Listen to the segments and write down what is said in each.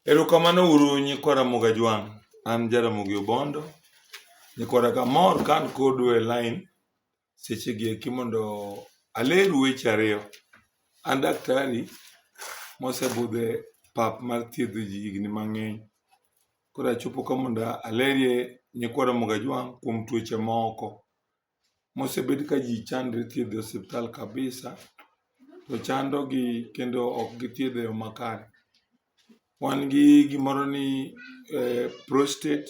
Erokamano uru nyikwa Ramogi Ajwang'. An Jaramogi Obondo. Nyikwa Raga mor ka an kodu e lain sechegi eki mondo aleru weche ariyo. An daktari mosebudho e pap mar thiedho ji higni mang'eny. Koro achopo ka mondo alerie nyikwa Ramogi Ajwang' kuom tuoche moko. mosebed ka ji chandre thiedho e osiptal kabisa to chandogi kendo ok githiedho e yo makare. Wan gi gimoro ni prostate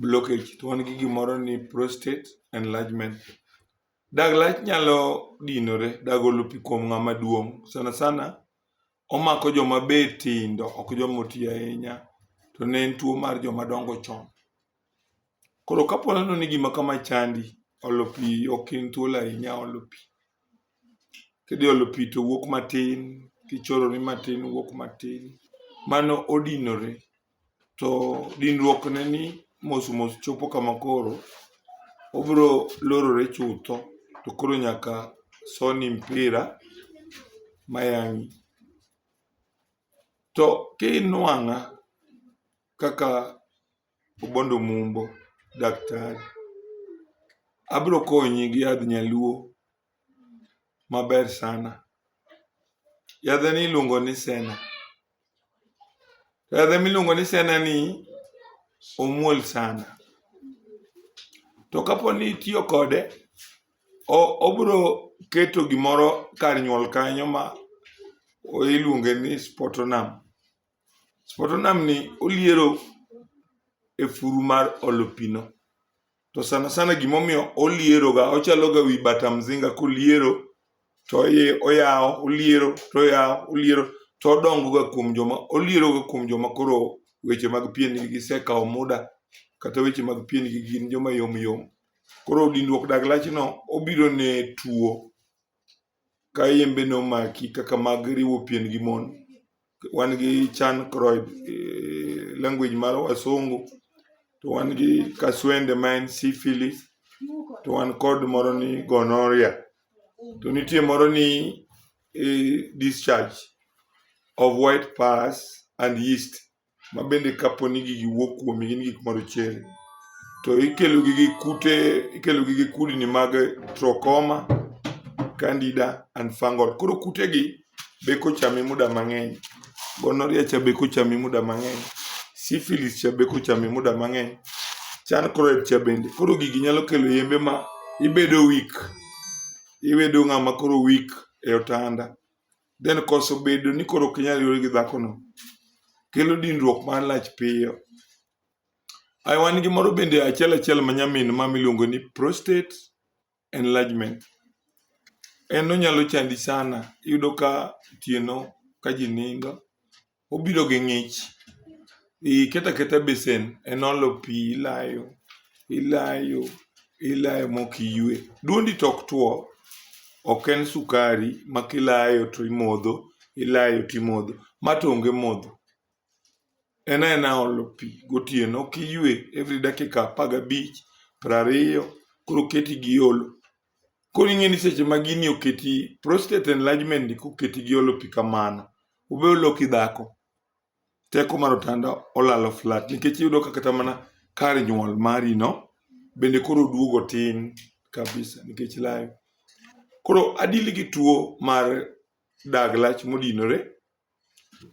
blockage to wan gi gimoro ni prostate enlargement. Dag lach nyalo dinore, dag olo pi kuom ng'ama duong' sana sana omako joma be tindo ok joma oti ahinya to ne en tuo mar joma dongo chon. Koro kapo neno ni gima kama chandi, olo pi ok in thuolo ahinya olo pi. Kidhi olo pi to wuok matin, kichorori matin wuok matin. Mano odinore. to dinruok ne ni mos mos chopo kama koro obiro lorore chutho to koro nyaka soni mpira mayang'i. To kinwang'a kaka Obondo Mumbo daktari, abiro konyi gi yadh nyaluo maber sana. Yadheni iluongo ni sena, To yadhe miluongo ni senani omuol sana. To kapo ni itiyo kode, obiro keto gimoro kar nyuol kanyo ma iluonge ni spotonam. Spotonam ni oliero e furu mar olo pino. to sana sana gimomiyo olieroga ochaloga wi bata mzinga koliero to oyawo oliero to oyawo oliero to odongoga kuom joma olieroga kuom joma koro weche mag pien gi gisekawo muda kata weche mag pien gi gin joma yom yom koro dindruok dag lachno obiro ne tuo ka yembe ne omaki kaka mag riwo pien gi mon, wan gi chan croyd e language mar wasungu, to wan gi kaswende ma en syphilis, to wan kod moro ni gonorrhea, to nitie moro ni eh, discharge of white pus and yeast. ma bende kapo ni gigi wuok kuomi gin gik marochere to ikelogi gi kute ikelogi gi kudni mag trokoma candida and fungal koro kutegi be kochami muda mang'eny gonoria cha be kochami muda mang'eny syphilis cha be kochami muda mang'eny chan chloride cha bende koro gigi nyalo kelo yembe ma ibedo weak ibedo ng'ama koro weak e otanda then koso bedo ni koro ok inyal yore gi dhakono kelo dinruok mar lach piyo ai wan gi moro bende achiel achiel ma nyamin ma miluongo ni prostate enlargement en onyalo chandi sana iyudo ka otieno ka ji nindo obiro gi ng'ich. Iketo aketa e besen, en olo pi ilayo, ilayo, ilayo mok iywe. Duondi to ok two, ok en sukari ma kilayo to imodho, ilayo to imodho. Ma to onge modho. En aena olo pi gotieno, ok iywe every dakika apar gabich, piero ariyo, koro oketi gi olo. Koro ing'e ni seche ma gini oketi, prostate enlargement ni koketi gi olo pi kamano, obe oloki dhako teko mar otanda olalo flat nikech iyudo ka kata mana kar nyuol mari no bende koro oduogo tin kabisa nikech layo. Koro adili gi tuo mar dag lach modinore,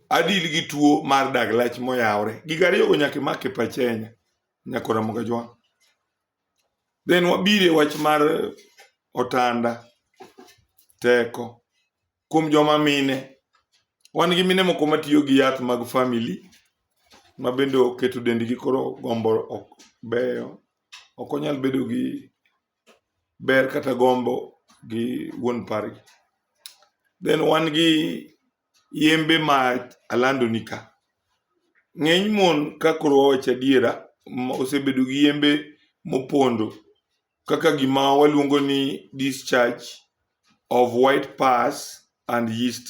adili gi tuo mar dag lach moyawore. Gigo ariyogo nyaka imak e pachi ahinya Nyako Ramogi Ajwang'. Then wabiro e wach mar otanda, teko. kuom joma mine, wan gi mine moko matiyo gi yath mag family ma bende oketo dendgi koro gombo ok beyo. Ok onyal bedo gi ber kata gombo gi wuon pargi. Then wan gi yembe ma alandoni ka. Ng'eny mon ka koro wawacho adiera osebedo gi yembe mopondo kaka gima waluongo ni discharge of white pus and yeast.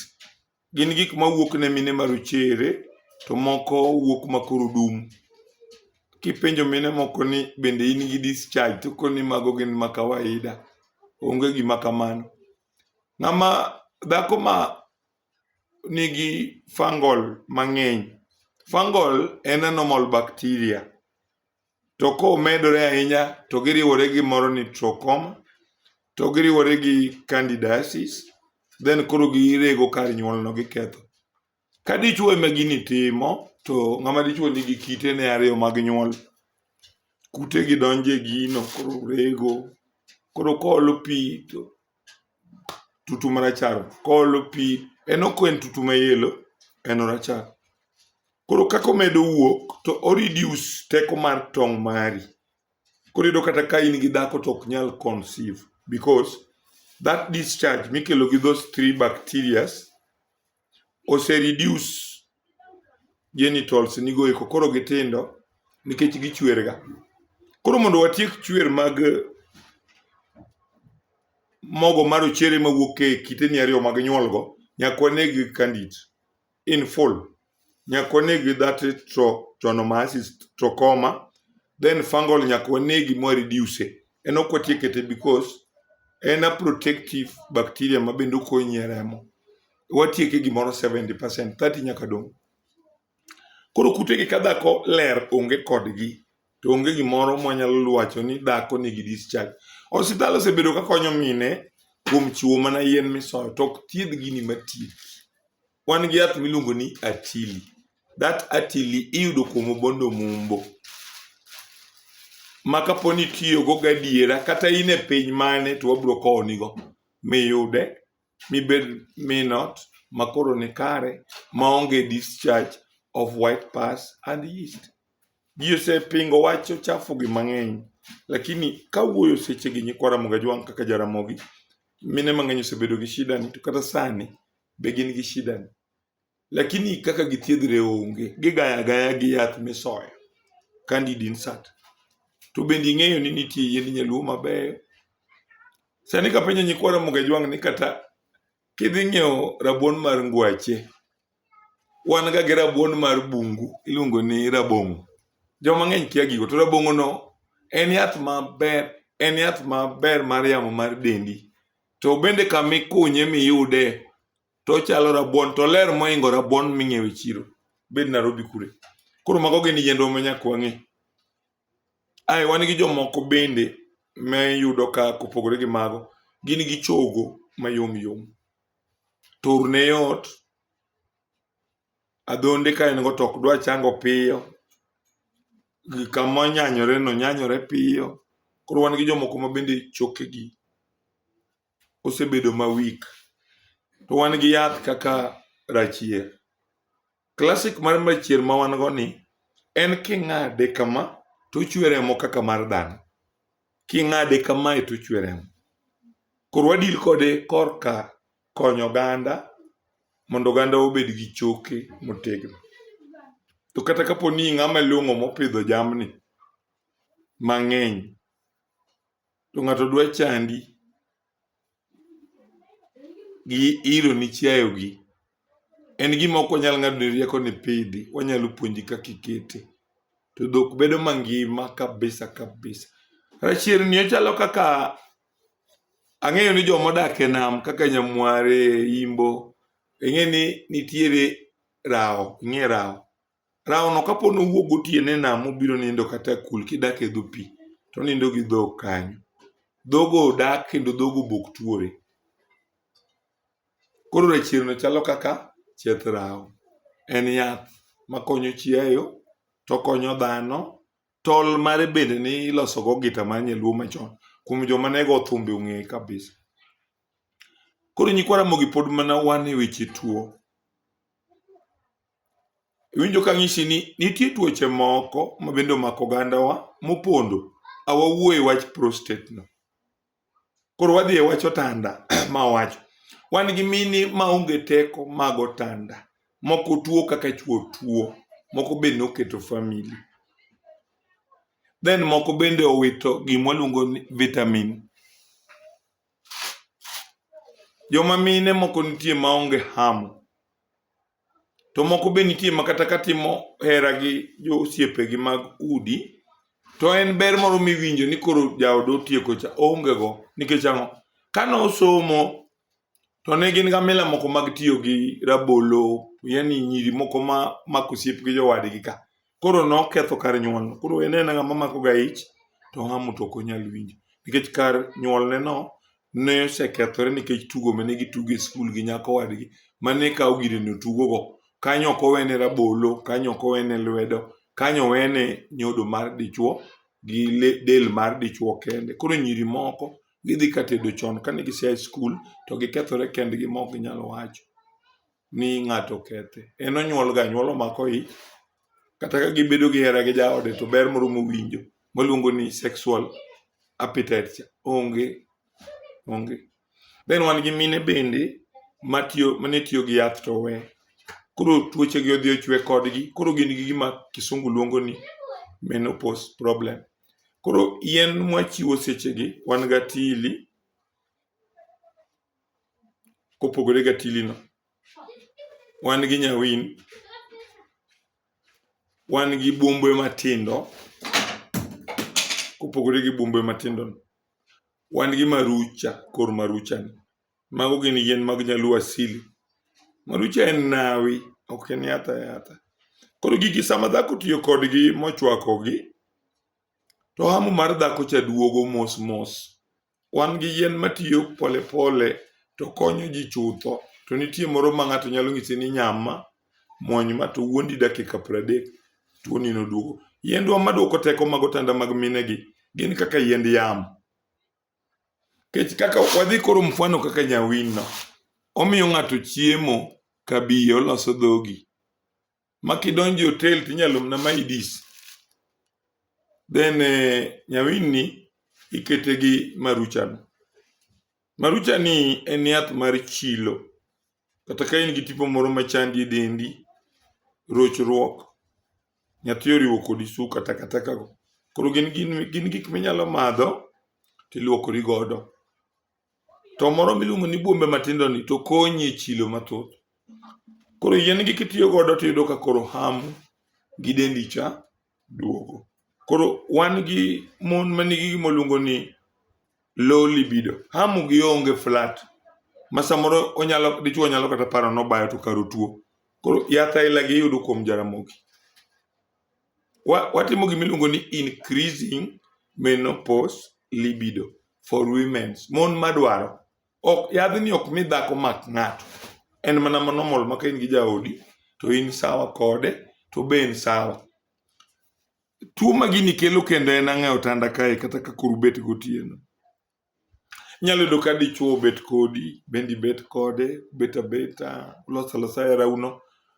Gin gik ma wuok ne mine ma rochere to moko wuok ma koro dum. Kipenjo mine moko ni bende in gi discharge to koni ni mago gin ma kawaida. Onge gima kamano. Ng'ama dhako ma nigi fungal mang'eny. Fungal en a normal bacteria to komedore ahinya to giriwore gi moro ni trachoma to giriwore gi candidiasis then koro girego kar nyuolno giketho. Ka dichwo ema gini timo to ng'ama dichwo nigi kitene ariyo mag nyuol, kutegi donjo e gino koro rego koro koolo pi to tutu marachar koolo pi en ok en tutu mayelo en orachar koro kaka omedo wuok to o reduce teko mar tong' mari koro iyudo kata ka in gi dhako to ok nyal conceive because that discharge mikelo gi those three bacterias ose reduce genitals nigo eko koro gitindo nikech gichwerga. Koro mondo watiek chwer mag mogo ma rochere mawuok e kiteni ariyo mag nyuolgo, nyaka waneg candid in full. Nyaka waneg that trypanosomas, trachoma, then fungal nyaka wanegi ma reduce en ok watie kete because en a protective bacteria ma bende okonyi e remo watieke gimoro 70% 30 nyaka dong koro kutegi ka dhako ler onge kodgi to onge gimoro mwanyalo lwacho ni dhako nigi discharge osiptal osebedo ka konyo mine kuom chiwo mana yien misoyo to ok thiedh gini matieki wan gi yath miluongo ni atili that atili iyudo kuom obondo mumbo ma kapo ni itiyogo gadiera kata in e piny mane to wabiro kowonigo miyude mibed minot makoro ni kare maonge discharge of white pass and yeast ji osepingo wacho chafu gi mang'eny lakini kawuoyo sechegi nyikwa ramogi ajwang' kaka jaramogi mine mang'eny osebedo gi shida ni to kata sani be gin gi shida ni lakini kaka githiedhre onge gigaya gaya gi yath misoyo candid insert to bende ing'eyo ni nitie yiend nyaluo mabeyo sani kapenjo nyikwa ramogi ajwang' ni kata kidhi ng'iewo rabuon mar ngwache wan ga gi rabuon mar bungu iluongo ni rabong'o joma ng'eny kia gigo to rabong'o no en yath maber en yath maber mar yamo mar dendi to bende kama ikunye miyude to ochalo rabuon to oler moingo rabuon ming'iewo e chiro bed Nairobi kure koro mago gin yiendwa ma nyaka wang'e ae wan gi jomoko bende ma iyudo ka kopogore gi mago gin gi chogo mayom yom to orne yot adhonde ka en go to ok dwa chango piyo, kama onyanyore no nyanyore piyo. Koro wan gi jomoko ma bende chokegi osebedo ma weak. To wan gi yath kaka rachier. Classic mar rachier ma wan go ni en king'ade kama to ochwe remo kaka mar dhano. King'ade kamae to ochwe remo. Koro wadil kode korka konyo oganda mondo oganda obed gi choke motegno. To kata kapo ni ng'ama long'o mopidho jamni mang'eny, to ng'ato dwa chandi gi ilo ni chiayogi, en gima ok wanyal ng'ado ni rieko ni pidhi, wanyalo puonji kaka ikete. To dhok bedo mangima kabisa kabisa. Rachirni ochalo kaka Ang'eyo ni joma odak e nam kaka Nyamware, Imbo, ing'e ni nitiere rawo, ing'e rawo. Rawo no kapo ni owuok gotieno e nam mobiro nindo kata e kul kidak e dho pi, to onindo gi dhok kanyo. Dhogo odak kendo dhogo bok tuore. Koro rachierno chalo kaka chieth rawo. En yath makonyo chiayo, tokonyo dhano, Tol mare bende ne ilosogo gita mar nyaluo machon kuom joma ne go thumbe ong'eye kabisa. Koro nyikwa Ramogi pod mana wan e weche tuo. Iwinjo ka ng'isi ni nitie tuoche moko ma bende omako ogandawa mopondo, awawuo e wach prostate no. Koro wadhi e wach otanda ma owacho. Wan gi mini ma onge teko mag otanda. Moko tuo kaka chuo tuo. Moko be noketo famili. Then moko bende owito gima waluongo ni vitamin. Joma mine moko nitie ma onge hamo. To moko be nitie ma kata ka timo hera gi josiepegi mag udi, to en ber moro miwinjo ni koro jaoda otieko cha, oongego. Nikech ang'o? Ka nosomo to ne gin ga mila moko mag tiyo gi rabolo, yaani nyiri moko ma mako osiep gi jowadgi ka. Koro noketho kar nyuolno. Koro en aena ng'ama makoga ich to hamo to ok onyal winjo. Nikech kar nyuolneno ne osekethore nikech tugo mane gitugo e skul gi nyako wadgi mane kawo gire no tugogo. Kanyo ok owene rabolo, kanyo ok owene lwedo, kanyo owene nyodo mar dichuo gi del mar dichuo kende. Koro nyiri moko gidhi ka tedo chon kane gise a e skul to gikethore kendgi ma ok ginyal wacho. ni ng'ato okethe. En onyuolga anyuola omako ich, kata ka gibedo gi hera gi jaode to ber moro mowinjo maluongo ni sexual appetite cha onge onge. Then wan gi mine bende matiyo mane tiyo gi yath to we koro tuochegi odhi ochwe kodgi koro gin gi gima kisungu luongo ni menopause problem. Koro yien mwachiwo sechegi wan gi atili, kopogore gi atilino, wan gi nyawin, wan gi buombe matindo kopogore gi buombe matindo, wan gi marucha kor maruchani. Mago gin yien mag nyaluo asili. Marucha en nawi ok en yath ayatha. Koro gigi sama dhako otiyo kodgi mochwakogi, to hamu mar dhakocha duogo mos mos Wan gi yien matiyo pole pole to konyo ji chutho, to nitie moro ma ng'ato nyalo nyisi ni nyama, muony ma to wuondi dakika pradek, tuoni noduogo. Yiendwa maduoko teko mag otanda mag minegi gin kaka yiend yamo. Kech kaka wadhi koro mfano kaka nyawinno, omiyo ng'ato chiemo ka biye oloso dhogi. ma kidonjo e hotel to inyalo mna maidis then eh, nyawinni ikete gi maruchano maruchani en yath mar chilo kata ka in gi tipo moro machandi e dendi rochruok nyathi oriwo kodi suka takatakago koro gin, gin, gin gik minyalo madho tiluokori godo to moro miluongo ni buombe matindo ni to konyi e chilo mathoth. Koro yien gi kitiyo godo to iyudo ka koro hamu gi dendi cha duogo. Koro wan gi mon ma nigi gima luongo ni low libido. Hamu gi onge flat. Ma samoro onyalo dichuo nyalo kata paro nobayo to karo tuo. Koro yath aila gi iyudo kuom Jaramogi. watimo gima iluongo ni increasing menopause libido for women mon madwaro ok yadhni ok mi dhako mak ng'ato en mana ma normal ma ka in gi jaodi to in sawa kode to be en sawa tuo ma gini kelo kendo en ang'e otanda kae kata ka koro ubet gotieno Inyalo yudo ka dichuo obet kodi, bende ibet kode, ubet abeta, uloso alosa herauno,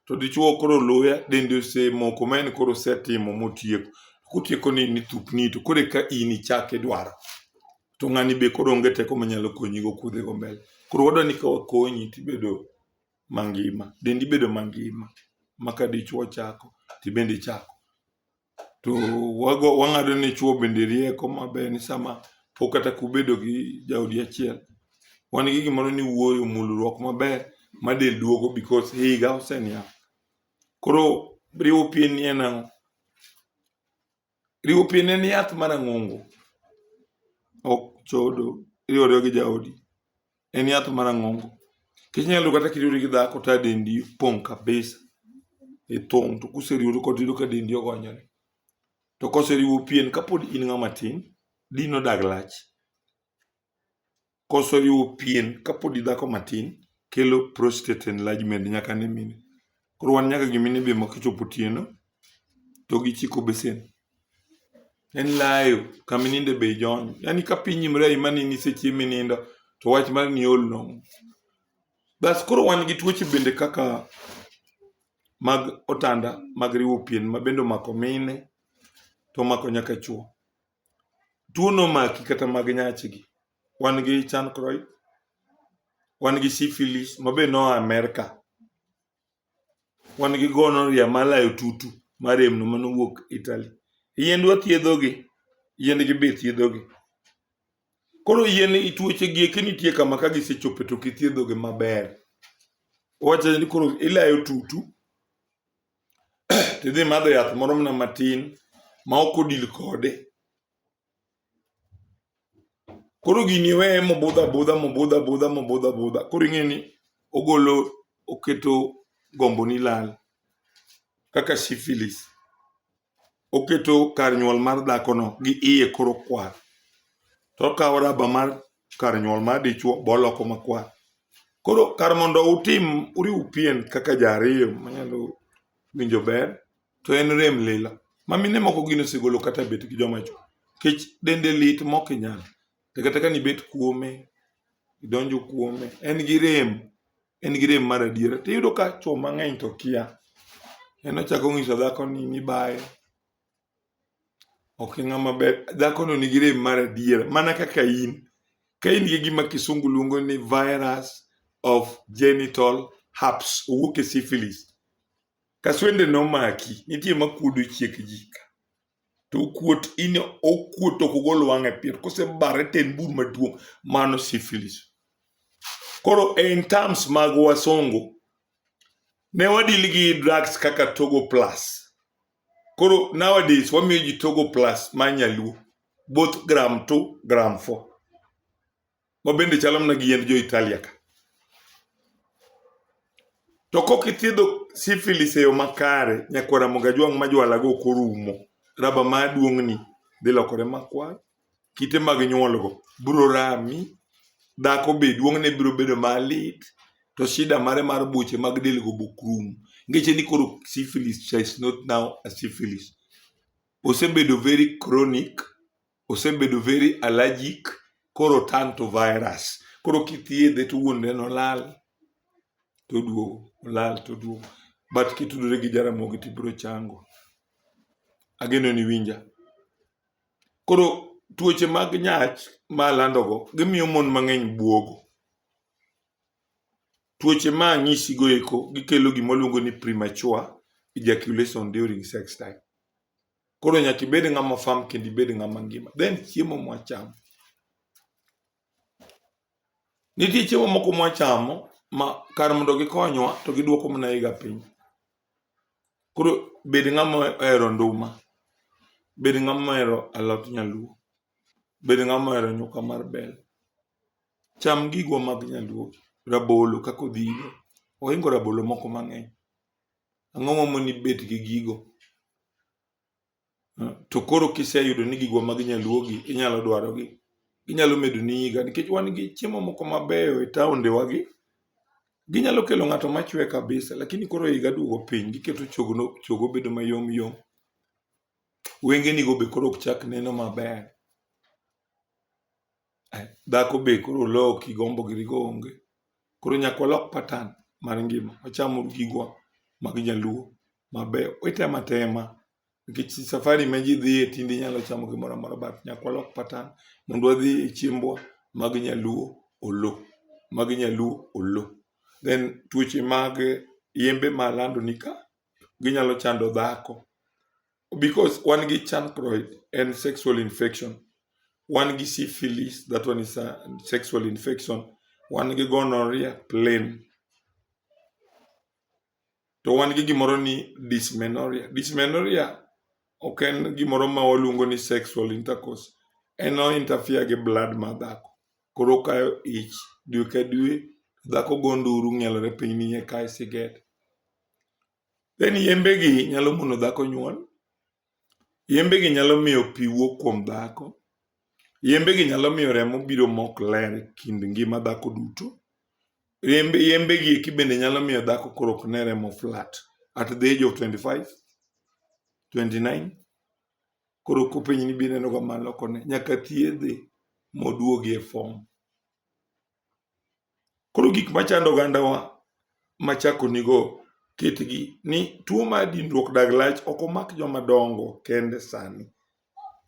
to dichuo koro oloya, dende osemoko ma en koro osetimo motieko. Kotieko ni ni thupni to koro eka in ichak idwaro. To ng'ani be koro onge teko manyalo konyigo kuodhigo mbele. Koro wadwa ni ka wakonyi tibedo mangima, dendi bedo mangima ma ka dichuo chako, tibende ichako. To wago wang'ado ne chwo bende rieko maber ni sama pok kata kubedo gi jaodi achiel, wan gi gimoro ni wuoyo, mulruok maber ma del duogo because higa oseniang'. Koro riwo pien ni en ang'o? Riwo pien en yath marang'ongo, ok chodo, iriwo ariwa gi jaodi. en yath marang'ongo kech inyalo kata kiriwori gi dhako to adendi pong' kabisa ithung' to kuseriwori kod yudo ka dendi ogonyore to koseriwo pien kapod in ng'ama tin dino dag lach koseriwo pien kapod idhako matin kelo prostate enlargement nyaka ne mine Koro wan nyaka gi mine be ma kochopo otieno to gichiko besen. En layo kama ininde be ijonyo. Yaani ka piny imre aima ni nisechiemo minindo to wach mar ni ool nong'o. Bas koro wan gi tuoche bende kaka mag otanda mag riwo pien ma bende omako mine to omako nyaka chuo. tuo nomaki kata mag nyachigi. Wan gi chancroid, wan gi syphilis ma be noa Amerka, wan gi gonorrhea malayo tutu maremno manowuok Italy. Yiendwa thiedhogi, yiendgi be thiedhogi. Koro yien tuochegi eki nitie kama ka gisechopo to ok ithiedhogi maber. Wawach ni koro ilayo tutu, tidhi madho yath moro mana matin ma ok odil kode koro gini iweye mobudho abudha mobudho abudha mobudho abudha koro ing'e ni ogolo oketo gombo ni lal kaka syphilis oketo kar nyuol mar dhakono gi iye koro kwar to okawo raba mar kar nyuol mar dichuo boloko makwar koro kar mondo utim uriw pien kaka ji ariyo manyalo winjo ber to en rem lilo ma mine moko gin osegolo kata bet gi joma chwo nikech dende lit mok inyal to kata ka nibet kuome idonjo kuome en gi rem en gi rem mar adiera. To iyudo ka chwo mang'eny to kia. En ochako onyiso dhako ni nibaye. Ok e ng'ama ber. Dhako no nigi rem mar adiera. Mana kaka in. Ka in gi gima kisungu luongo ni virus of genital herpes. Owuok e syphilis. Kaswende nomaki. Nitie makuodo chiek ji ka. to okuot in okuot ok ogol wang'e pier kosebare to en bur maduong' mano syphilis koro in terms mag wasungu ne wadil gi drugs kaka togo plus koro nowadays wamiyo ji togo plus ma nyaluo both gram 2 gram 4 ma bende chalo mana gi yiend jo-Italia ka. To kok ithiedho syphilis e yo makare, nyakwara moga jwang' ma jwalago ok orumo. Raba ma duong'ni dhi lokore makwar, kite mag nyuolgo biro rami, dhako be duong'ne biro bedo malit, to shida mare mar buche mag delgo be ok rum. Ngeche ni koro syphilis cha is not now a syphilis. Osebedo very chronic osebedo very allergic koro turn to virus koro kithiedhe to wuonre nolal toduogo olal toduogo but kitudore gi jaramogi tibiro chango ageno ni winja koro tuoche mag nyach ma landogo gimiyo mon mang'eny buogo tuoche ma anyisigo eko gikelo gima waluongo ni premature ejaculation during sex time Koro nyaka ibed ng'ama fam kendo ibed ng'ama ngima. Then chiemo mwachamo. Nitie chiemo moko mwachamo ma kar mondo gikonywa to giduoko mana iga piny. Koro bed ng'ama ohero nduma. Bed ng'ama ohero alot nyaluo. Bed ng'ama ohero nyuka mar bel. Cham gigwa mag nyaluo. Rabolo kaka odhigo. Ohingo rabolo moko mang'eny. Ang'o momiyo nibet gi gigo? Hmm, to koro kiseyudo ni gigwa mag nyaluogi inyalo dwarogi, ginyalo medo ni yiga nikech wan gi chiemo moko mabeyo e taondewagi. Ginyalo kelo ng'ato machwe kabisa lakini koro higa duogo piny giketo chogo, chogo bedo mayom yom. Wengenigo be koro ok chak neno maber. Dhako be koro oloki gombo giri go onge. Koro nyaka walok patan mar ngima wacham gigwa mag nyaluo mabeyo. Item atema nikech safari ma ji dhiye tinde inyalo chamo gimoro amora but nyaka walok patan mondo wadhi e chiembwa mag nyaluo olo. Mag nyaluo olo. Then tuoche mag yembe ma alandoni ka ginyalo chando dhako. because wan gi chancroid en sexual infection wan gi syphilis that one is a sexual infection wan gi gonorrhea plain to wan gi gimoro ni dysmenorrhea dysmenorrhea ok en gimoro ma waluongo ni sexual intercourse en o interfere gi blood ma dhako koro okayo ich dwe ka dwe dhako go nduru ng'ielore piny ni eka e siget Then yembegi nyalo mono dhako nyuol, yembegi nyalo miyo pi wuok kuom dhako, yembegi nyalo miyo remo biro mok ler e kind ngima dhako duto, yembe yembegi eki bende nyalo miyo dhako koro ok ne remo flat at the age of 25, 29 koro kopenji ni be inenoga malo koni nyaka thiedhe moduogi e form. Koro gik machando ogandawa machako nigo kitgi ni tuo mar dinruok dag lach ok omak joma dongo kende sani.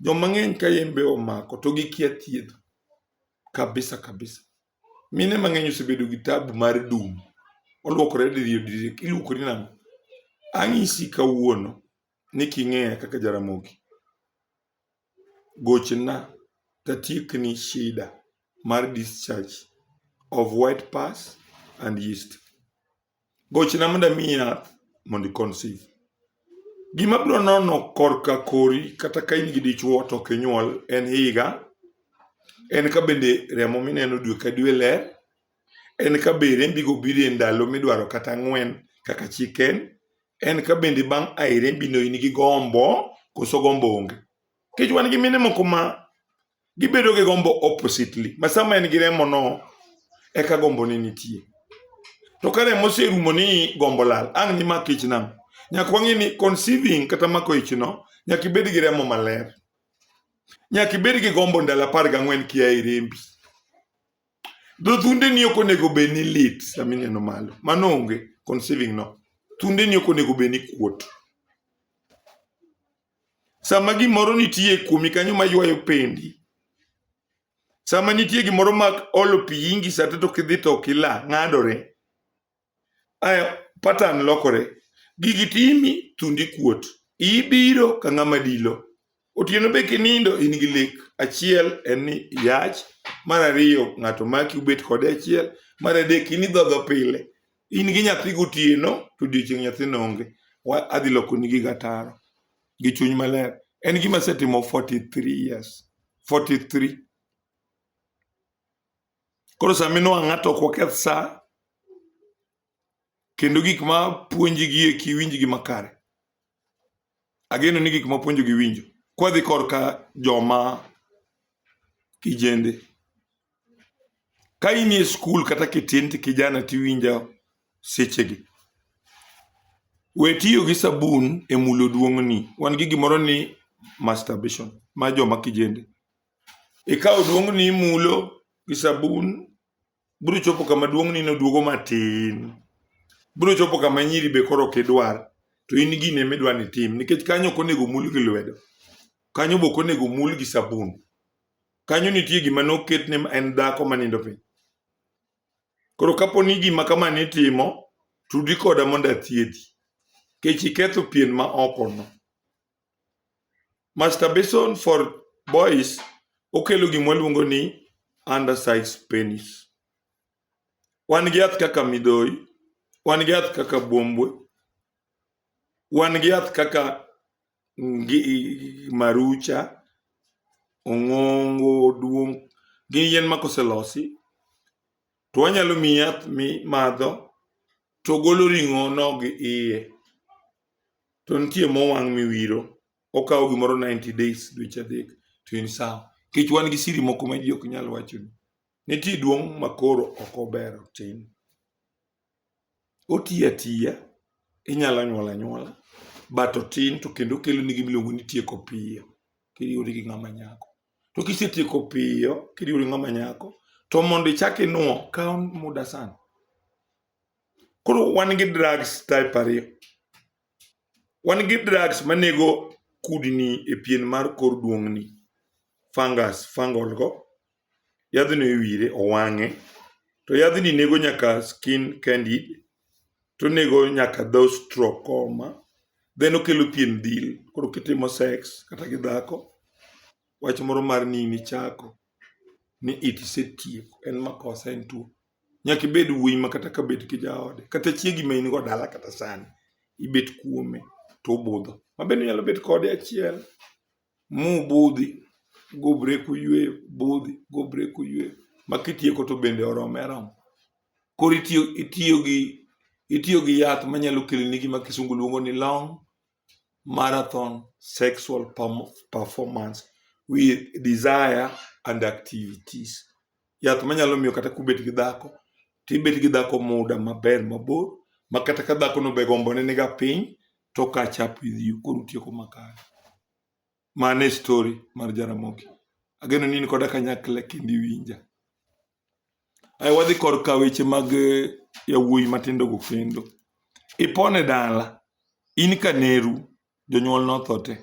Joma ng'eny ka yembe omako to gikia thieth kabisa kabisa. Mine mang'eny osebedo gi tabu mar dum. Olwokore diriyo diriyo iluokori nang'o? Anyisi kawuono ni king'eya kaka Jaramogi gochna tatiekni shida mar discharge of white pus and yeast. Gochna mondo amiyi yath mondo i conceive. Gima abiro nono korka kori kata ka in gi dichuo to ok inyuol en higa, en ka bende remo mineno dwe ka dwe ler, en ka be rembigo biro e ndalo midwaro kata ang'wen kaka chik en, En ka bende bang' a e rembino in gi gombo koso gombo onge. Nikech wan gi mine moko ma gibedo gi gombo oppositely. Ma sama en gi remono eka gombo ne nitie. To ka remo oserumo ni gombo lal, ang' ni mak ich nang'o? Nyaka wang'e ni conceiving kata mako ichno nyaka ibed gi remo maler. Nyaka ibed gi gombo ndalo apar gang'wen kia e rembi. Dho thunde ni ok onego bed ni lit sama ineno malo. Mano onge conceiving no. Thunde ni ok onego bed ni kuot. Sama gimoro nitie kuomi kanyo ma ywayo pendi. Sama nitie gimoro ma olo pi ingi sate to kidhi to kila ng'adore. Aya pattern lokore. Gigi timi thundi kuot. Ibiro ka ng'ama dilo. Otieno be kinindo in gi lek. Achiel en ni yach, mar ariyo ng'ato maki ubet kode achiel, mar adek in idhodho pile. In gi nyathi gotieno to odiochieng' nyathino onge. Wa adhi lokoni giga taro gi chuny maler. En gima asetimo 43 years. 43. Koro sama inwang'o ng'ato ok waketh sa kendo gik ma puonji gi eki winj gi makare. Ageno ni gik ma puonjo gi winjo. Kwadhi korka joma kijende. Ka in e skul kata kitin to kijana tiwinjo sechegi. We tiyo gi sabun e mulo duong'ni. Wan gi gimoro ni masturbation ma joma kijende. Ikawo duong'ni imulo gi sabun, biro chopo kama duong'ni noduogo matin. Biro chopo kama nyiri be koro ok idwar, to in gini ema idwa ni itim nikech kanyo ok onego omul gi lwedo. Kanyo be ok onego omul gi sabun. Kanyo nitie gima noket ni en dhako manindo piny. Koro kapo ni gima kama nitimo, tudi koda mondo athiedhi. Nikech iketho pien ma okono. Masturbation for boys okelo gima waluongo ni undersize penis. Wan gi yath kaka midhoi, wan gi yath kaka buombwe, wan gi yath kaka ngi- marucha, ong'ongo, duong', gin yien ma koselosi To wanyalo miyi yath mimadho to golo ring'ono gi iye. To nitie mowang' miwiro, okawo gimoro 90 days, dweche adek, to in sawa. Nikech wan gi siri moko ma ji ok nyal wachoni. Nitie duong' makoro ok ober otim. otiyo atiya, inyalo nyuol anyuola but otin to kendo okelo ni gima iluongo ni tieko piyo kiriwori gi ng'ama nyako. To kisetieko piyo kiriwori gi ng'ama nyako to mondo ichak inuo kawo muda sana. Koro wan gi drugs type ariyo. Wan gi drugs manego kudni e pien mar kor duong'ni, fungus, fungal go. Yadhno iwire, owang'e. To yadhni nego nyaka skin candid, tonego nyaka dho strokoma. Then okelo pien dhil, koro kitimo sex kata gi dhako, wach moro mar ni in ichako ni it isetieko, en makosa en tuo. Nyaka ibed wuoyi ma kata ka bed ki jaode kata chiegi ma in go dala kata sani ibet kuome to obudho. Ma bende inyalo bet kode achiel mubudhi gubre kuyweyo budhi gubre kuyweyo ma kitieko to bende orome aroma. Koro itiyo itiyo gi itiyo gi yath manyalo keloni gima kisungu luongo ni long marathon sexual performance with desire and activities. Yath manyalo miyo kata kubet gi dhako tibet gi dhako muda maber mabor ma kata ka dhako no be gombo ne niga piny to catch up with you koro tieko makare. Mane story mar Jaramogi. Ageno ni in koda kanyakla kendo iwinja. Ae wadhi korka weche mag eh, yawuoyi matindo go kendo. Ipone dala, in kaneru, jonyuol notho te.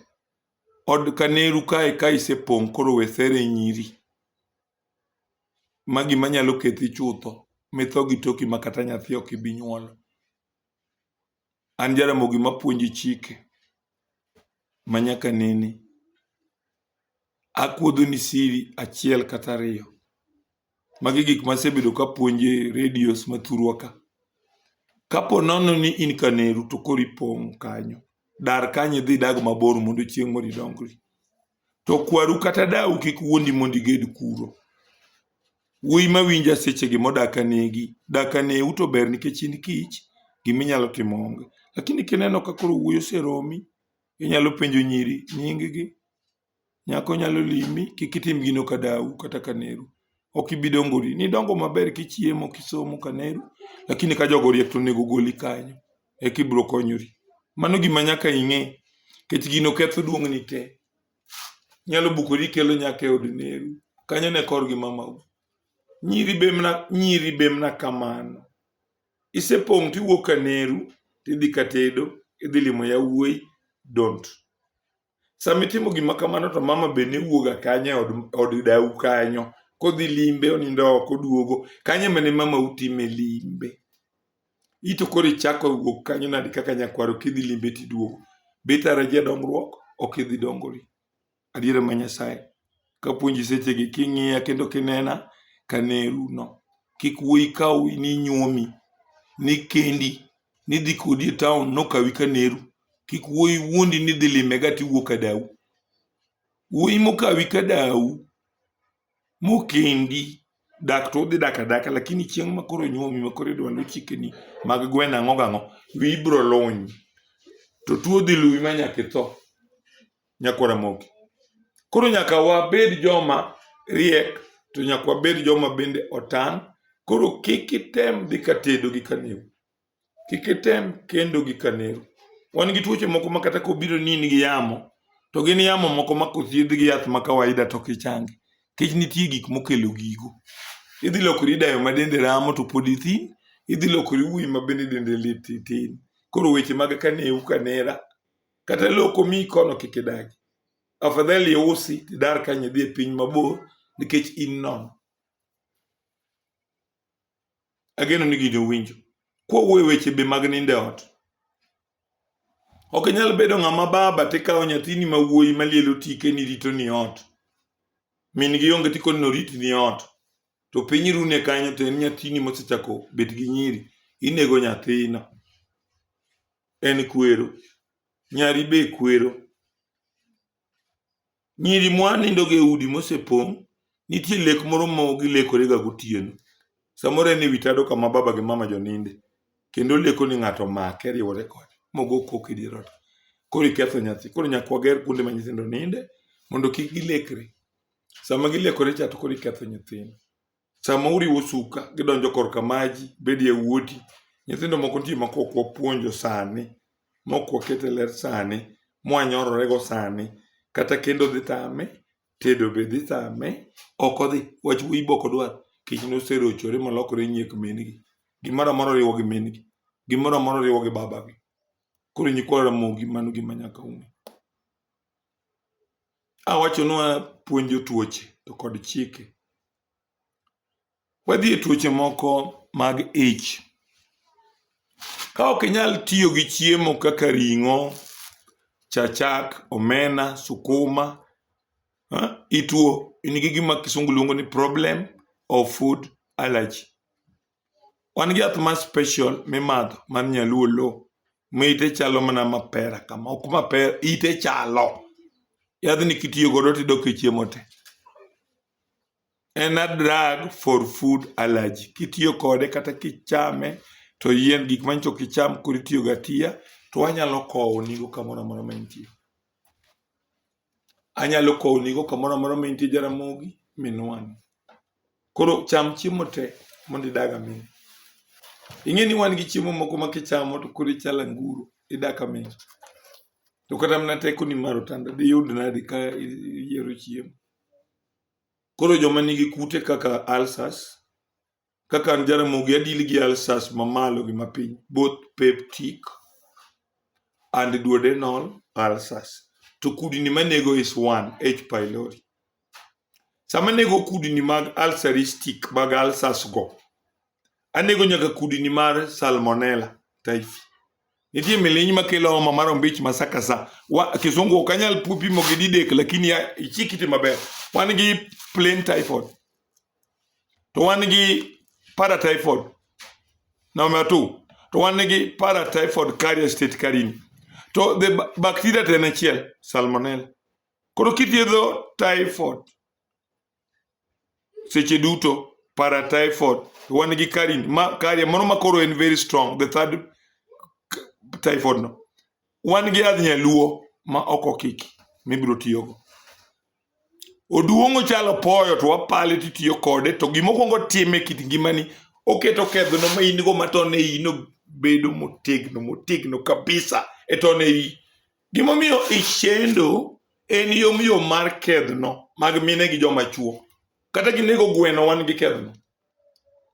Od kaneru kae ka isepong' koro we sere nyiri. Ma gima nyalo kethi chutho, mitho gi toki ma kata nyathi ok ibi nyuolo. An Jaramogi mapuonjo chike ma nyaka nene. Akuodhoni siri achiel kata ariyo. Magi gik masebedo kapuonjo e radios ma thurwa ka. Kapo nono ni in Kaneru to koro ipong' kanyo, dar kanyo idhi idag mabor mondo chieng' moro idongri. to kwaru kata dau kik wuondi mondo iged kuro wuoyi ma winja sechegi modak anegi dak aneu to ber nikech in kich gima inyalo timo onge lakini kineno ka koro wuoyi oseromi inyalo penjo nyiri nyinggi nyako nyalo limi kik itim gino ka dau kata ka neru ok ibi dongori nidongo maber kichiemo kisomo ka neru lakini ka jogo oriek to onego ogoli kanyo eka ibiro konyori. Mano gima nyaka ing'e, nikech gino ketho duong'ni te. Inyalo bukori ikelo nyaka e od neru, kanyo ne kor gi mamau. Nyiri be mna nyiri be mna kamano. Isepong' tiwuok ka neru, tidhi ka tedo, idhi limo yawuoyi, don't. Sama itimo gima kamano to mama be ne wuoga kanye od, od dau kanyo kodhi limbe onindo oko duogo kanye mane mama utime limbe ito koro ichako wuok kanyo nadi kaka nyakwaro kidhi limbe tiduogo bitara jadongruok ok idhi dongori adiera ma nyasaye Kapuonji sechegi king'iya kendo kinena ka neruno, kik wuoyi kawi ni nyuomi, ni kendi, ni dhi kodi e taon nokawi ka neru. Kik wuoyi wuondi ni dhi lime ga tiwuok ka dawu. Wuoyi mokawi ka dawu, mokendi, dak to udhi dak adaka lakini chieng' ma koro nyuomi ma koro idwa luw chikeni mag gweno ang'o gang'o, wiyi biro luny. To tuo dhi luwi ma nyaka itho. Nyakwa Ramogi. Koro nyaka wabed joma riek to nyaka wabed joma bende otang'. Koro kik item dhi ka tedo gi kaneru. Kik item kendo gi kaneru. Wan gi tuoche moko ma kata kobiro ni in gi yamo, to gin yamo moko ma kothiedh gi yath ma kawaida to kichangi. Kech nitie gik mokelo gigo. Idhi lokori dayo ma dende ramo to pod ithin, idhi lokori wuoyi ma bende dende lit titin. Koro weche mag kaneru kanera kata loo ok omiyi kono kik idagi afadhali iusi tidar kanyo idhi e piny mabor nikech in nono ageno ni gini owinjo kwawuoye weche be mag nindo e ot ok inyal bedo ng'ama baba tikawo nyathini ma wuoyi malielo tike ni rito ni ot min gi onge tikoni norit ni ot to piny rune kanyo to en nyathini mosechako bet gi nyiri inego nyathino en kwero nyari be kwero nyiri mwanindo e udi mosepong' nitie lek moro ma gilekorega gotieno samoro en e wi tado kama baba gi mama joninde kendo leko ni ng'ato make riwore kode mogo kok e dier ot koro iketho nyathi koro nyaka wager kuonde ma nyithindo ninde mondo kik gilekre sama gilekore cha to koro iketho nyithindo Sama uriwo suka, gidonjo korka maji, bed yawuoti. Nyithindo moko nitie ma kok wapuonjo sani, mok waket e ler sani, mwanyororego sani. Kata kendo dhi tame, tedo be dhi tame, ok odhi. Wach wuoyi be ok odwar, kech noserochore molokore nyiek min-gi. Gimoro amora oriwo gi min-gi, gimoro amora oriwo gi babagi. Koro nyikwa Ramogi mano gima nyaka ung'e. Awachonwa puonjo tuoche to kod chike. Wadhi e tuoche moko mag ich. Ka ok inyal tiyo gi chiemo kaka ring'o, chachak, omena, sukuma, ituo. In gi gima kisungu luongo ni problem of food allergy. Wan gi yath ma special mimadho mar nyaluo low ma ite chalo mana mapera kama ok mapera ite chalo yadhni kitiyo godo tidok e chiemo te en a drug for food allergy kitiyo kode kata kichame to yien gik manyiso kicham koro itiyogo atiya to wanyalo kowonigo kamoro amora ma intie anyalo kownigo kamoro amora ma intie Jaramogi minwang'. Koro cham chiemo te mondo idag aming'a. Ing'e ni wan gi chiemo moko ma kichamo to koro ichalo anguro, idak aming'a. To kata mana tekoni mar otanda diyud nadi ka iyiero chiemo. Koro joma nigi kute kaka ulcers, kaka an Jaramogi adil gi alsas mamalo gi mapiny both peptic and duodenal ulcers to kudni manego is one H pylori sama nego kudni mag ulceristic mag ulcers go anego nyaka kudni mar salmonella typhi nitie miliny makelo homa mar ombich masakasa wa kisungu ok anyal pimo gi didek lakini ya- ichikiti maber wan gi plain typhoid to wan gi paratyphoid number two to wan gi paratyphoid carrier state karini to the ba- bacteria to en achiel salmonella koro kithiedho typhoid seche duto paratyphoid to wan gi karin ma carrier mano ma koro en very strong the third typhoid no wan gi yadh nyaluo ma ok okiki mibiro tiyogo Oduong' ochalo poyo to wapale to itiyo kode to gima okuongo time kit ngimani oketo kedhono ma in go ma to ne ino bedo motegno motegno kabisa e to ne i. Gimomiyo ishendo en yom yom mar kedhno mag mine gi joma chuo. Kata ginego gweno wan gi kedhno.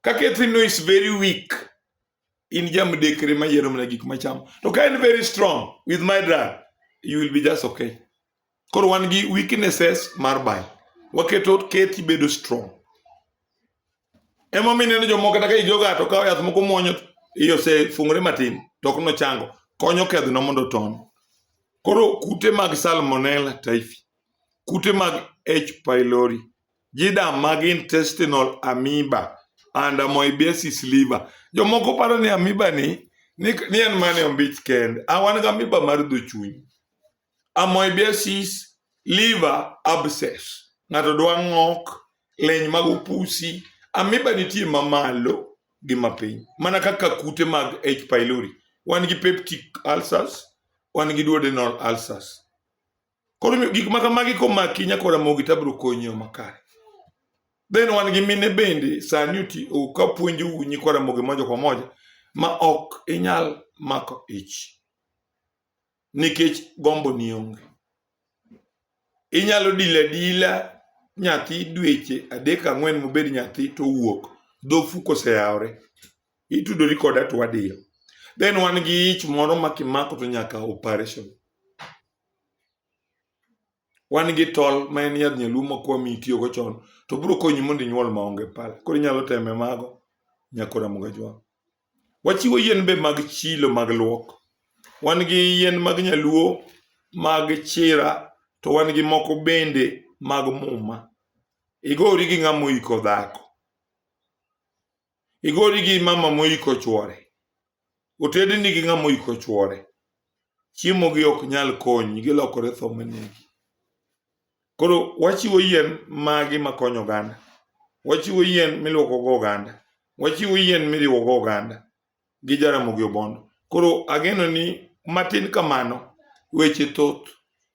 Ka kedhno is very weak in jamdekre mayiero mana gik machamo. To ka en very strong with my drug you will be just okay. Koro wan gi weaknesses mar bile. Waketo kethi bedo strong. Emomiyo ineno jomoko kata ka igi oga to kawo yath moko muonyo to iye osefungore matin to ok nochango. Konyo kedhno mondo oton. Koro kute mag salmonella typhi, kute mag H. pylori, JIDAM mag intestinal amoeba and amoebiasis liver. Jomoko paro ni amoeba ni ni, ni en mana e ombich kende. A wan gi amoeba mar dho chuny. amoebiasis liver abscess ng'ato dwa ng'ok leny mag upusi amiba nitie mamalo gi mapiny mana kaka kute mag h pylori wan gi peptic ulcers wan gi duodenal ulcers koro omiyo gik ma kamagi komaki nyakora mogi tabro konyi e yo makare then wan gi mine bende sani oti o- ka puonjo u nyikwara mogi moja kwa moja ma ok inyal mako ich nikech gombo ni onge. Inyalo dila dila nyathi dweche adek ang'wen mobed nyathi to wuok dhofu koseyawre itudori koda to wadiyo then wan gi ich moro ma kimako to nyaka operation wan gi tol ma en yadh nyaluo ma kwa mi itiyogo chon to biro konyi mondo inyuol maonge pala koro inyalo teme mago nyakora mugajwang'. Wachiwo yien be mag chilo mag luok. Wan gi yien mag nyaluo mag chira to wan gi moko bende mag muma. Igori gi ng'ama oiko dhako. Igori gi mama moiko chwore. Otedni gi ng'ama oiko chwore. Chiemogi ok nyal konyi, gilokore tho manegi. Koro wachiwo yien magi makonyo oganda. Wachiwo yien miluoko go oganda. Wachiwo yien miriwo go oganda gi Jaramogi Obondo. Koro ageno ni matin kamano weche thoth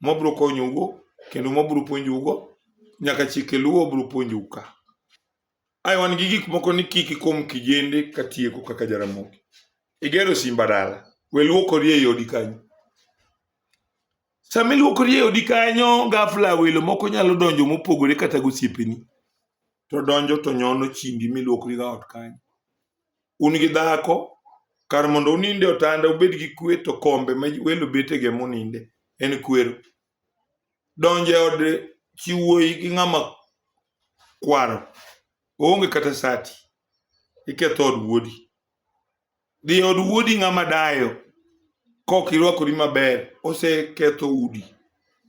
mabro konyougo kendo mabro puonjougo nyaka chike luo bro puonjou ka. Ae wan gi gik moko ni kik ikom kijende ka tieko kaka Jaramogi. Igero simba dala, we luokori ei odi kanyo. Sama iluoko rie odi kanyo, gafla welo moko nyalo donjo mopogore kata gosiepeni. To donjo to nyono chimbi miluokri ga ot kanyo. Un gi dhako, kar mondo uninde otanda ubed gi kwe to kombe ma welo betege muninde en kwero. Donjo e od chiwuoyi gi ng'ama kwaro, oonge kata sati, iketho od wuodi. Dhi e od wuodi ng'ama dayo kok irwakori maber oseketho udi.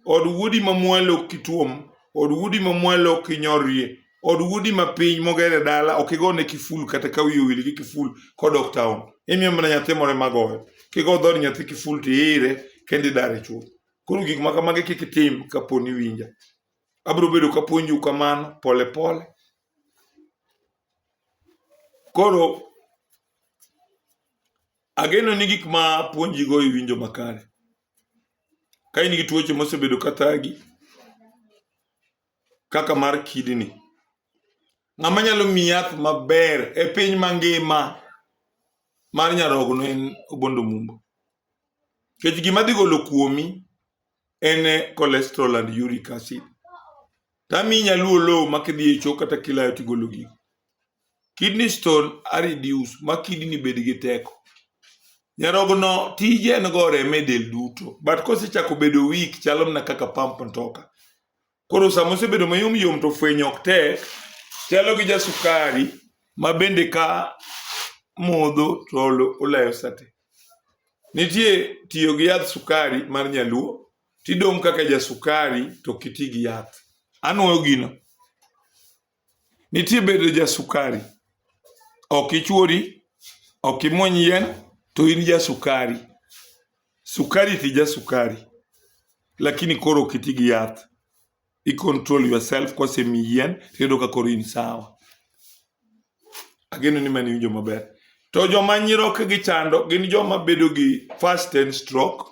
Od wuodi ma mwalo ok ituom, od wuodi ma mwalo ok inyorrie, od wuodi ma piny moger e dala ok igone kiful kata ka wiye owil gi kiful kodok taon. Imiyo mana nyathi moro ema goyo. Kigo dhood nyathi kiful to iire kendo idare chuth. Koro gik ma kamagi kik itim kapo ni iwinja. Abiro bedo kapuonjou kamano pole pole. Koro ageno ni gik ma puonjigo iwinjo makare. Ka in gi tuoche mosebedo ka thagi kaka mar kidney, ng'ama nyalo miyi yath maber e piny mangima mar nyarogno en Obondo Mumbo. Nikech gima dhi golo kuomi en cholesterol and uric acid. Tami nyaluo low ma kidhi e choo kata kilayo tigolo gigo. Kidney stone a reduce ma kidney bed gi teko. Nyarogno tije en go reme del duto but kosechako bedo weak chalo mana kaka pump mtoka. Koro sama osebedo mayom yom to fwenyo ok tek, chalo gi jasukari ma bende ka modho to olayo sate. Nitie tiyo gi yadh sukari mar nyaluo tidong' kaka jasukari to kiti gi yath. Anwoyo gino. Nitie bedo ja sukari. Ok ichuori, ok imuony yien, to in ja sukari. Sukari ti ja sukari. Lakini koro ok iti gi yath. I control yourself kosemi yien, tiyudo ka koro in sawa. Ageno ni mani winjo maber. To joma nyiroke gi chando gin joma bedo gi first ten stroke.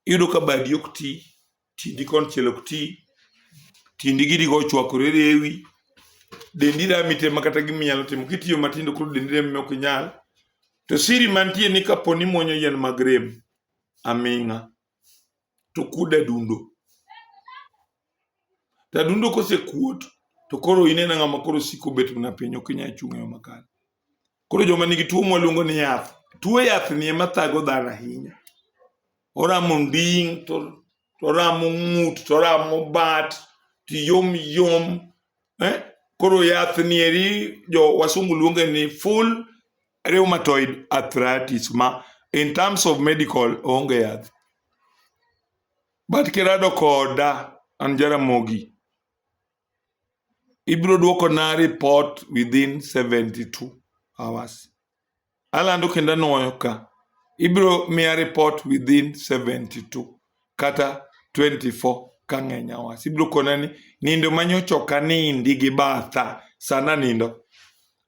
Iyudo ka badi ok ti. tindi konchiel ok ti tindi gidigo ochwakore rewi dendi rami te ma kata giminyalo timo kitiyo matindo koro dendi rami ok inyal to siri mantie ni kapo ni mwonyo yien mag rem aming'a to kuod adundo to adundo kosekuot to koro inena ng'ama koro siko bet mana piny ok inyal chung' e yo makare Koro joma nigi tuo mwaluongo ni yath, tuo yath ni ema thago dhano ahinya. Oramo nding' to oramo ng'ut to oramo bat to yom yom eh? Koro yath ni eri jo wasungu luonge ni full rheumatoid arthritis ma in terms of medical onge yath. But kirado koda an Jaramogi ibiro dwokona report within 72 hours alando kendo anwoyo ka ibiro miya report within 72 kata 24 ka ng'eny hours ibiro kona ni nindo manyochoka nindi gi batha sana nindo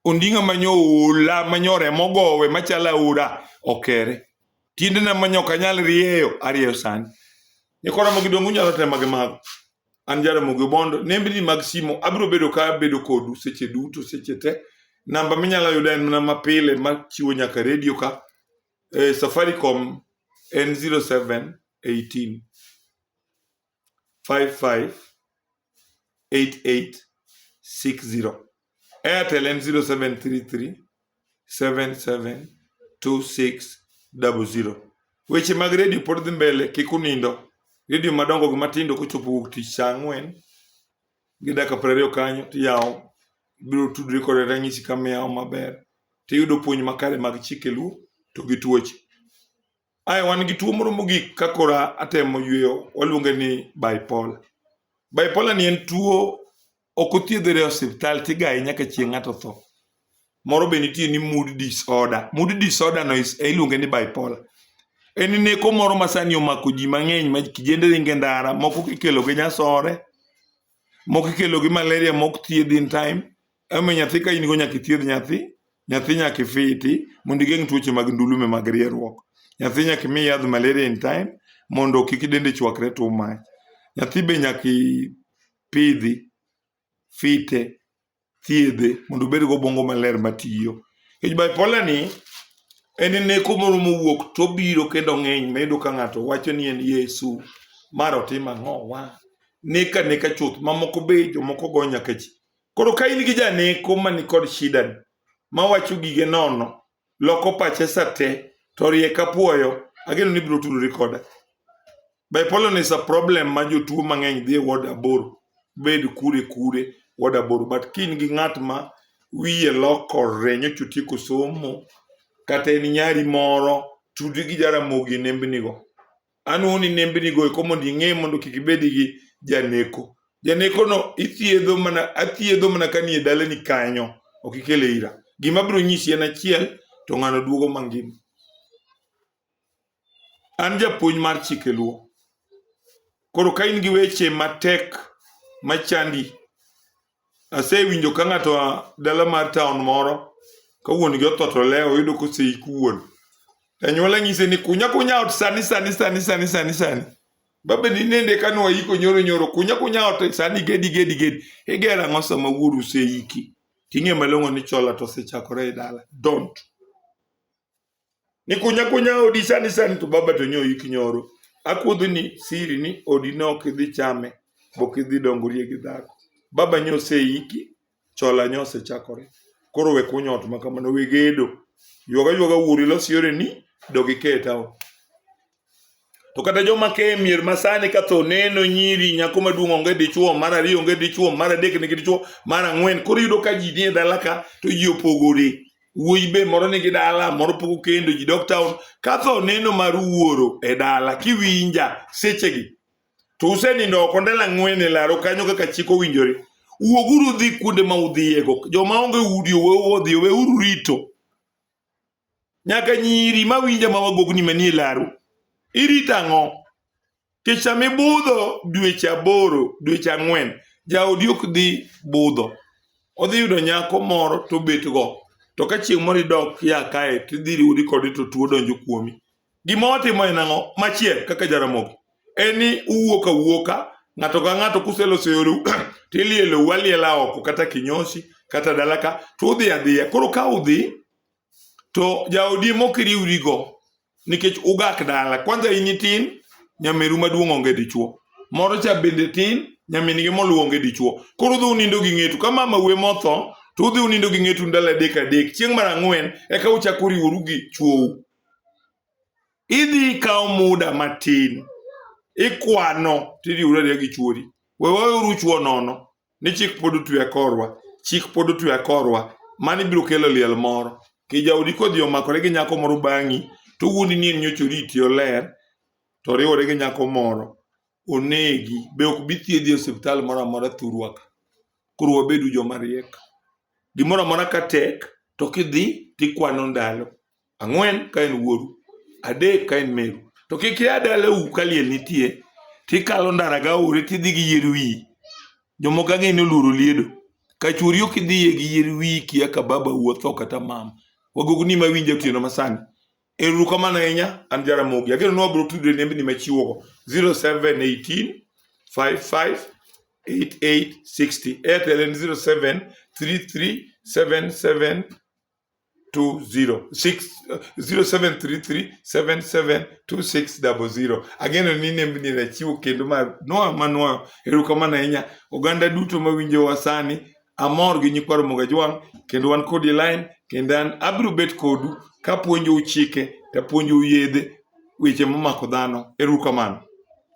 ondinga manyoula manyore mogowe machalo aora okere tiendena manyok anyal rieyo arieyo sani nikora mogidongo unyalo tema gi mago An Jaramogi Obondo, nembni mag simo abiro bedo ka abedo kodu seche duto seche te. Namba minyalo yuda en mana mapile machiwo nyaka redio ka. E, Safaricom en 0718 55 8860. Airtel ni 0733 772600. Weche mag redio pod dhi mbele, kik unindo. Redio madongo gi matindo kochopo wuok tich saa ang'wen gi dakika piero ariyo kanyo tiyawo biro tudri kod ranyisi kama iyawo maber tiyudo puonj makare mag chike luo to gi tuoche. Ae wan gi tuo moro mogik ka kora atemo yweyo, waluonge ni bipolar. Bipolar ni en tuo ok othiedhre e osiptal tigaye nyaka chieng' ng'ato tho. Moro be nitie ni mood disorder. Mood disorder no is- iluonge ni bipolar. En neko moro ma sani omako ji mang'eny ma kijende ringe ndara, moko kikelo gi nyasore, moko ikelo gi malaria mok thiedhi in time ema nyathi ka in go nyaka ithiedh nyathi nyathi nyaka ifiti mondo igeng' tuoche mag ndulume mag rieruok nyathi nyaka imi yadh malaria in time mondo kik dende chwakre to mach nyathi be nyaka ipidhi fite thiedhe mondo obed gi obwongo maler matiyo. Nikech bipolar ni en neko moro mowuok to obiro kendo ng'eny ma iyudo ka ng'ato wacho ni en Yesu, mar otim ang'o wa. Nek aneka chuth, mamoko be jomoko go nyaka ji. Koro ka in gi janeko man kod shida ni, mawacho gige nono, loko pache sate to rie ka puoyo ageno ni biro tudori koda bipolar is a problem ma jotuo mang'eny dhi e ward aboro bed kure kure ward aboro but ka in gi ng'at ma wiye lokore nyocha otieko somo kata en nyari moro tudi gi jaramogi e nembnigo anoni nembnigo eko mondo ing'e mondo kik ibed gi janeko. Janekono ithiedho mana, athiedho mana ka nie dalani kanyo, ok ikele ira. Gima abiro nyisi en achiel, to ng'ano duogo mangima. An japuonj mar chike luo. Koro ka in gi weche matek machandi, Asewinjo ka ng'ato a dala mar taon moro ka wuon gi otho to lewo oyudo koseik wuon. Anyuola nyise ni kunya kunya ot sani sani sani sani sani sani. Babe ni nende ka nwa iko nyoro nyoro kunya kunya ot sani gedi gedi gedi. Igera ang'o sama wuoru oseiki? Ting'e malong'o ni chola to osechakore e dala. Don't. ni kunya kunya odi sani sani to baba to nyoyi kinyoro akuodhi ni siri ni odi ne ok idhi chame bok idhi dongorie gi dhako baba nyo oseiki chola nyo osechakore koro we kunyo ot ma kamano we gedo ywaga ywaga wuori los yore ni dogi keta To kata joma ke mier masani ka tho neno nyiri nyako maduong' onge dichuo, mar ariyo onge dichuo, mar adek nigi dichuo, mar ang'wen. Koro iyudo ka ji nie dala ka to ji opogore. Wuoyi be moro nigi dala, moro pok okendo, ji dok taon. Ka tho neno mar wuoro e dala, kiwinja sechegi, to usenindo oko ndalo ang'wen e laro kanyo kaka chik owinjore. Wuoguru udhi kuonde ma udhiyego. Joma onge udi owe odhi, oweuru rito. nyaka nyiri ma winja ma wagogni manie laru irito ang'o kech sama ibudho dweche aboro dweche ang'wen jaodi ok dhi budho odhi yudo nyako moro to bet go to ka chieng' moro idok ya kae to idhi riwori kode to tuo donjo kuomi gima watimo en ang'o machiel kaka jaramogi en ni uwuok awuoka ng'ato ka ng'ato kuseloso yoru to ilielou aliela oko kata kinyosi kata dalaka to udhi adhiya koro ka udhi to jaodi mok iriwrigo nikech ugak dala kwanza in itin nyameru maduong' onge dichuo moro cha bende tin nyamingi moluwo onge dichuo koro udhi unindo gi ng'etu ka mama we motho to udhi unindo gi ng'etu ndalo adek adek chieng' mar ang'wen eka uchako uriworu gi chuou idhi ikawo muda matin ikwano tiriwri ariya gi chuori we waweuru chuo nono ni chik pod otwe akorwa chik pod otwe akorwa mani biro kelo liel moro kijaodi kodhi omakore gi nyako moro bang'i to wuondi ni en nyocha oriti oler to oriwore gi nyako moro onegi be ok bi thiedhi e osiptal moro amora thurwa ka koro wabedu joma riek gimoro amora ka tek to kidhi tikwano ndalo ang'wen ka en wuoru adek ka en meru to kik ia dalau ka liel nitie tikalo ndara ga ore tidhi gi yier wiyi jomoko ang'e ni oluoro liedo ka chwori ok idhiye gi yier wiyi kia ka baba wuotho kata mama wagogo ni ma winjo otieno masani Eru kamano ahinya an Jaramogi. Ageno ni wabiro tudore nembni machiwogo 0718 55 8860. Airtel en 07 33 77 two zero six uh, zero seven three three seven seven two six double zero. Ageno ni nembni ni rachiwo kendo ma noa ma noa erokamano ahinya oganda duto ma winjo wa sani amor gi nyikwa Ramogi Ajwang' kendo wan kodi line kendo an abiro bet kodu kapuonjou chike tapuonjou yedhe weche momako dhano erokamano.